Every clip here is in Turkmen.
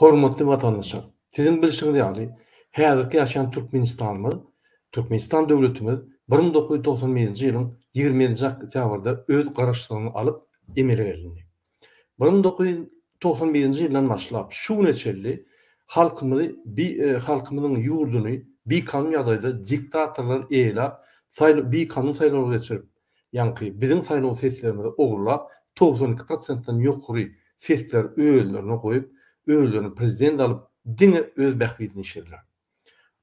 Hormatly watandaşlar! Siziň bilşiňiz ýaly, häzirki ýaşaýan Türkmenistanymyz, Türkmenistan döwletimiz bir müň dokuz ýüz togsan birinji ýylyň ýigrimi ýedinji oktýabrda öz Garaşsyzlygyny alyp emele gelindi. Bir müň dokuz ýüz togsan birinji ýyldan başlap şu güne çenli halkymyzy bi halkymyzyň ýurduny bikanun ýagdaýda diktatorlar eýelap, saý bikanun saýlawlar geçirip, Ýaňky biziň saýlaw seslerimizi ogurlap, togsan iki prosentden ýokary sesleri özlerine goýup, özlerini prezident alyp, diňe öz bähbidini işlediler.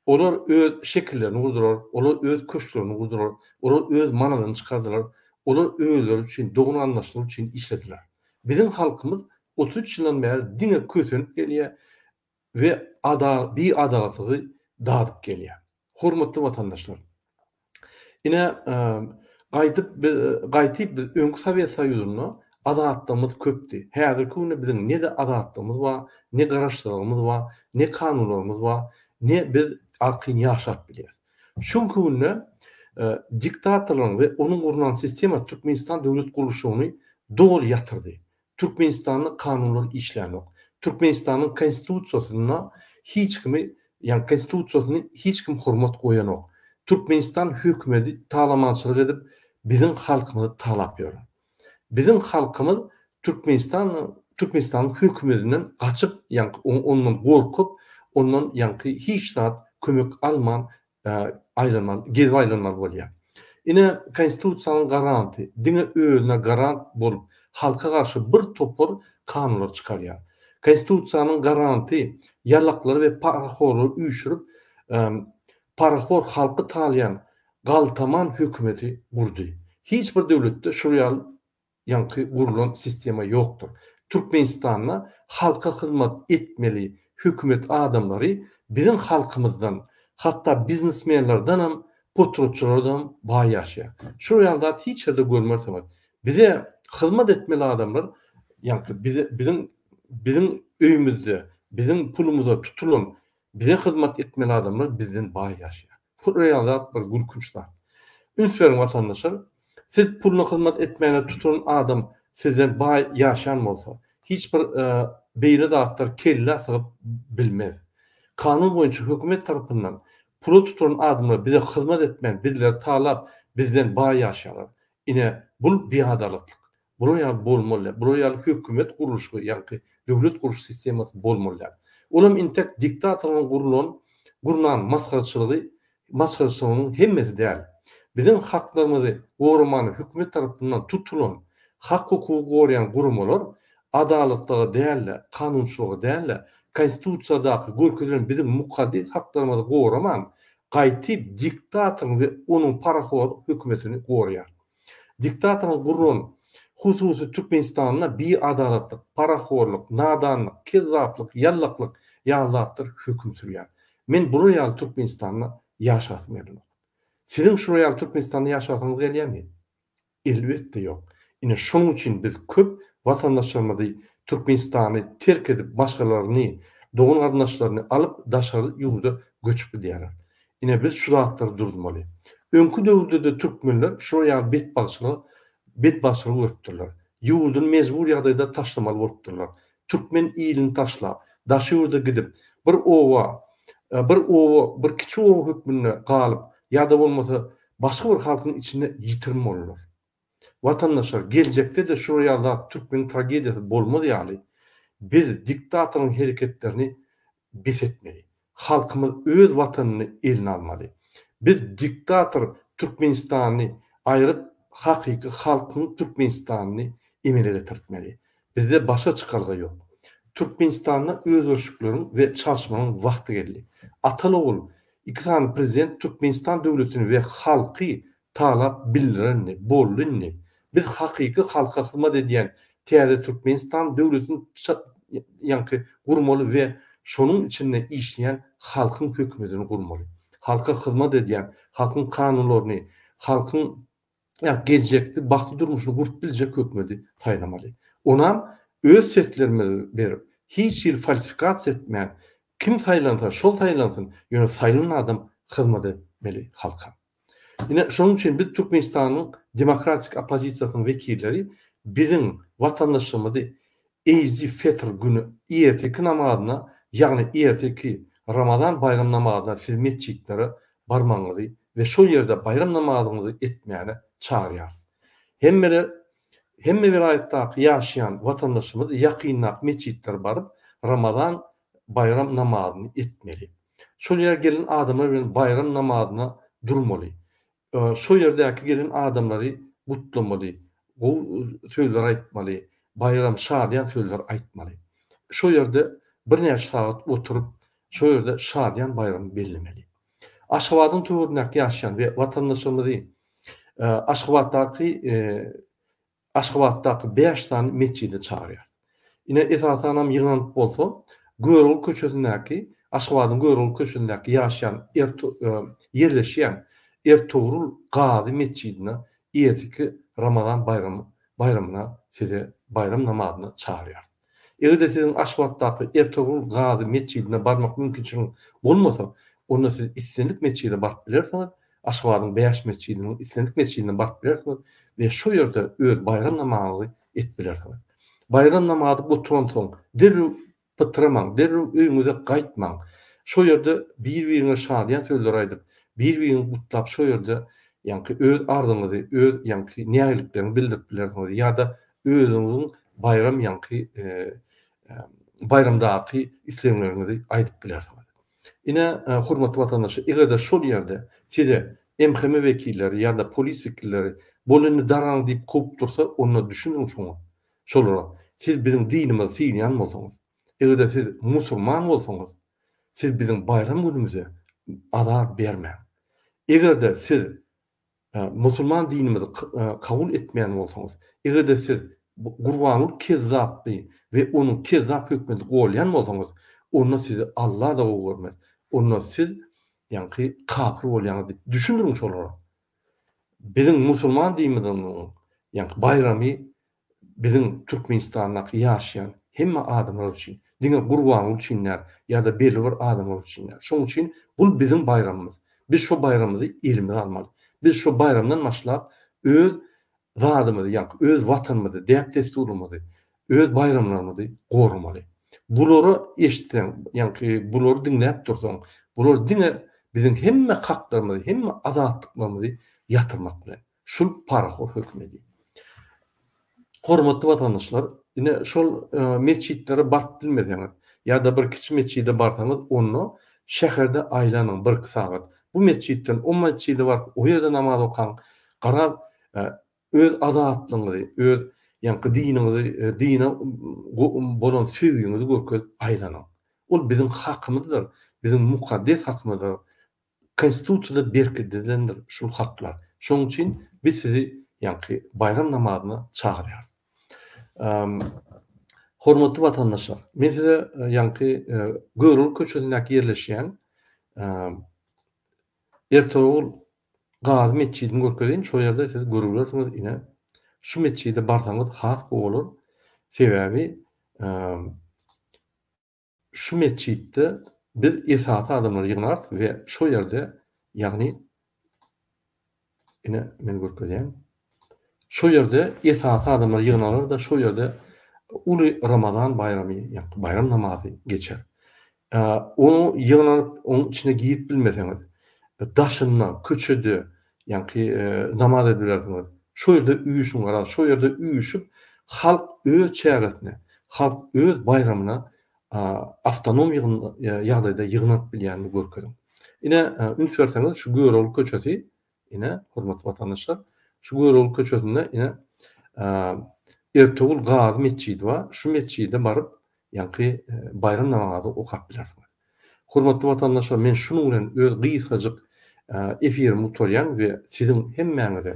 Olar öz şekillerini gurdular, olar öz köşklerini gurdular, olar öz manadyny çykardylar, olar özleri üçin, dogan-garyndaşlary üçin işlediler. Biziň halkymyz otuz üç ýyldan bäri diňe kösenip gelýär, we ada biadalatygy dadyp gelýär. Hormatly watandaşlar! Ine, gaýdyp biz, gaýtyp biz öňki Sowet Soýuzynda azatlygymyz köpdi. Häzirki günde biziň ne-de azatlygymyz bar, ne garaşsyzlygymyz bar, ne kanunlarymyz bar, ne biz arkaýyn ýaşap bilýäs. Şu günki günde diktatorlaryň we onuň gurnan sistema Türkmenistan döwlet gurluşygyny doly ýatyrdy. Türkmenistanda kanunlar işlänok. Türkmenistanyň konstitusiýasyna hiç kimi, ýagny konstitusiýasyny hiç kim hormat goýanok. Türkmenistan hökümeti talamançylyk edip biziň halkymyzy talap ýör. Biziň halkymyz Türkmenistanyň Türkmenistanyň hökümetinden gaçyp, ýagny ondan gorkup, ondan ýagny hiç zat kömek alman aýlanmaly, gezip aýlanmaly bolýar. Ine, Konstitusiýanyň garanty diňe özüne garant bolup, halka garşy bir topar kanunlar çykarýar. Konstitusiýanyň garanty ýalaklary we parahorlary üýşürip, parahor halky talaýan galtaman hökümeti gurdy. Hiç bir döwletde şol ýaly Ýaňky gurlan sistema ýokdur. Türkmenistanda halka hyzmat etmeli hökümet adamlary biziň halkymyzdan, hatda biznesmenlerdenem, potratçylardanam baý ýaşaýar. Şol ýaly zat hiç ýerde görmersiňiz. Bize hyzmat etmeli adamlar, ýaňky biziň biziň öýümizde, biziň pulumyza tutulan bize hyzmat etmeli adamlar bizden baý ýaşaýar. Pul real zat bir gülkünç zat. Üns beriň watandaşlar. Siz puluna hyzmat etmäne tutulan adam sizden baý ýaşan bolsa, hiç bir beýle zatlar kellä sygyp bilmez. Kanun boýunça hökümet tarapyndan pula tutulan adamlar bize hyzmat etmän bizleri talap bizden baý ýaşaýarlar. Ine bul biadalyklyk. Bular ýaly bolmalyar. Bular ýaly hökümet gurluşygy, ýaňky döwlet guruş sistemasy bolmalyar. Ol hem intek diktatoryň gurlan, gurnan masgaraçylygy, masgaraçylygynyň hemmesi däl. Biziň haklarymyzy goramaly hökümet tarapyndan tutulan, hak-hukugy goraýan guramalar adalatlyga däl-de, kanunçylyga däl-de, Konstitusiýadaky görkezilen biziň mukaddes haklarymyzy goraman, gaýtyp diktatoryň we onuň paraholyk hökümetini goraýar. Diktatoryň guran hususy Türkmenistanynda biadalatlyk, parahorlyk, nadanlyk, kezzaplyk, ýallaklyk ýaly zatlar höküm sürýär. Men bular ýaly Türkmenistanda ýaşasym gelenok. Siziň şular ýaly Türkmenistanda ýaşasyňyz gelýärmi? Elbetde ýok. Ine şonuň üçin biz köp watandaşlarymyzy Türkmenistany terk edip başgalaryny, dogan-garyndaşlaryny alyp daşary ýurda göçüp gidýärler. Ine biz şu zatlary duruzmaly. Öňki döwürdede türkmenler şular ýaly betbagtçylygy betbagtçylygy görüpdirler. Ýurduny mejbur ýagdaýda taşlamaly bolupdyrlar. Türkmen ilini taşlap, daşy ýurda gidip, bir oba bir oba bir kiçi oba hökmünde galyp ýa-da bolmasa başga bir halkyň içinde ýitirim boldular. Watandaşlar geljekde-de şular ýaly zat türkmen tragediýasy bolmaz ýaly biz diktatoryň hereketlerini bes etmeli. Halkymyz öz watanyny eline almaly. Biz diktator Türkmenistany aýryp hakyky halkyň Türkmenistanyny emele getirtmeli. Bizde başga çykalga ýok. Türkmenistanda özgerişikleriň we çalşmanyň wagty geldi. Atal-ogul iki sany prezident Türkmenistan döwletini we halky Talap bildirendi, boldy indi. Biz hakyky halka hyzmat edýän täze Türkmenistan döwletini ça ýanky gurmaly we şonuň içinde işleýän halkyň hökümetini gurmaly. Halka hyzmat edýän, halkyň kanunlaryny, halkyň ýa geljekde bagtly durmuşyny gurup biljek hökümeti saýlamaly. Onam öz seslerimizi berip, hiç hili falsifikasiýa etmän, kim saýlansa, şol saýlansyn, ýöne saýlan adam hyzmat etmeli halka. Ine, şonuň üçin biz Türkmenistanyň demokratik oppozisiýasynyň wekilleri biziň watandaşymyzy Eýzi Fetr güni irteki namazyna, ýagny irteki Ramazan baýram namazyna siz metjitlere barmagyňyzy we şol ýerde baýram namazyňyzy etmäne çagyrýarys. Hemmeler hemme welaýatdaky ýaşaýan watandaşymyz ýakyndaky metjitlere baryp Ramazan baýram namazyny etmeli. Şol ýere gelen adamlar bilen baýram namazyna durmaly. Şo ýerdäki gelen adamlary gutlamaly, gowy sözler aýtmaly, baýram, şadyýan sözler aýtmaly. Şo ýerde birnäçe sagat oturyp, şo ýerde şadyýan baýramy bellemeli. Aşgabadyň töweregindäki ýaşaýan we watandaşlarymyzy Aşgabatdaky Aşgabatdaky bäş sany metjide çagyrýarys. Ine, esasanam ýygnanyp bolsa, Görogly köçesindäki, Aşgabadyň Görogly köçesindäki ýaşaýan er ýerleşýän Ertogrul Gazy metjidine erteki Ramazan baýramy baýramyna size baýram namazyna çagyrýarys. Eger-de siziň Aşgabatdaky Ertogrul Gazy metjidine barmak mümkinçiligiňiz bolmasa, onda siz islendik metjide baryp bilersiňiz, Aşgabadyň bäş metjidiniň islendik metjidine baryp bilersiňiz we şo ýerde öz baýram namazyňyzy edip bilersiňiz. Baýram namazy gutaransoň, derrew pytramaň, derrew öýüňize gaýtmaň. Şo ýerde bir-biriňize şadyýan sözler aýdyp, bir-biriňizi gutlap, şo ýerde ýaňky öz arzyňyzy, öz ýaňky nägilikleriňizi bildirip bilersiňiz ýa-da Özüňiziň baýram ýaňky baýramdaky islegleriňizi aýdyp bilersiňiz. Ine, hormatly watandaşlar, eger-de şol ýerde size MHM wekilleri ýa-da polis wekilleri bol indi daraň diýip kowup dursa, onda düşüniň şoňa, şolara, siz biziň dinimizi synýan bolsaňyz, eger-de siz musurman bolsaňyz, siz biziň baýram günümize azar bermäň. Eger-de siz Musulman dinimizi kabul etmeýän bolsaňyz, eger-de siz Gurbanguly kezzapdy we onuň kezzap hökümeti golýan bolsaňyz, onda sizi Alla-da gowy görmez. Onda siz, ýaňky, kapyr bolýaňyz diýip düşündiriň şolara. Biziň musulman dinimiziň, ýaňky, baýramy biziň Türkmenistandaky ýaşaýan hemme adamlar üçin, diňe Gurbanguly üçin däl ýa-da belli bir adamlar üçin däl. Şonuň üçin bul biziň baýramymyz. Biz şo baýramymyzy elimize almaly. Biz şo baýramdan başlap öz zadymyzy, ýagny öz Watanymyzy, däp-dessurymyzy, öz baýramlarymyzy goramaly. Bulary eşitseň, ýagny bulary diňläp dursaň, bular diňe biziň hemme haklarymyzy, hemme azatlyklarymyzy ýatyrmak bilen. Şul parahor hökmedi. Hormatly watandaşlar, ine şol metjitlere baryp bilmeseňiz, ýa-da bir kiçi metjide barsaňyz, onda şäherde aýlanyň birki sagat. Bu metjitden o metjide baryp, o ýerde namaz okaň. Garaz, öz azatlygyňyzy, öz ýaňky diniňizi, dine bolan söýgiňizi görkezip aýlanyň. Ol biziň hakymyzdyr, biziň mukaddes hakymyzdyr. Konstitusiýada berkidilendir şul haklar. Şonuň üçin biz sizi ýaňky baýram namazyna çagyrýarys. Hormatly watandaşlar, men size ýaňky Görogly köçesindäki ýerleşýän Ertogul Gazy metjidini görkezeýin, şol ýerde siz görübilersiňiz ine. Şu metjide barsaňyz has gowy bolar. Sebäbi Şu metjitde biz esasy adamlary ýygnarys we şo ýerde, ýagny, ine, men görkezýän, şo ýerde esasy adamlar ýygnalar-da, şo ýerde uly Ramazan baýramy, ýa-da baýram namazy geçer. Oňa ýygnanyp, onuň içine girip bilmeseňiz, daşynda, köçede, Ýaňky namaz ediberdiňiz. Şo ýerde üýşüň garaz, şo ýerde üýşüp, halk öz çäresine, halk öz baýramyna awtonom ýagdaýda ýygnanyp bilýänini görkeziň. Ine, üns berseňiz, şu Görogly köçesi, ine, hormatly watandaşlar, şu Görogly köçesinde, ine, Ertogul Gazy metjidi bar. Şu metjide baryp, Ýaňky baýram namazy okap bilersiňiz. Hormatly watandaşlar men şunuň bilen öz gysgajyk efirimi gutarýan we siziň hemmäňize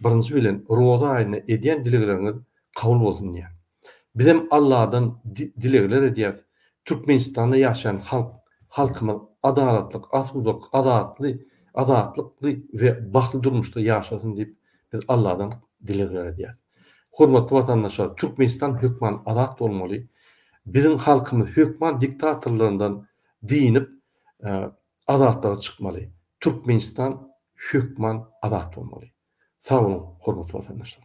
birinji bilen roza aýynda edýän dilegleriňiz kabul bolsun diýýän. Bizem Alladan dilegler edýäs Türkmenistanda ýaşaýan halk halkymyz adalatlyk asudalyk adatly adatlykly we bagtly durmuşda ýaşasyn diýip Biz Alladan dilegler edýäris. Hormatly watandaşlar, Türkmenistan hökman azat bolmaly. Biziň halkymyz hökman diktatorlaryndan dynyp, azatlyga çykmaly. Türkmenistan hökman azat bolmaly. Sag boluň, hormatly watandaşlar!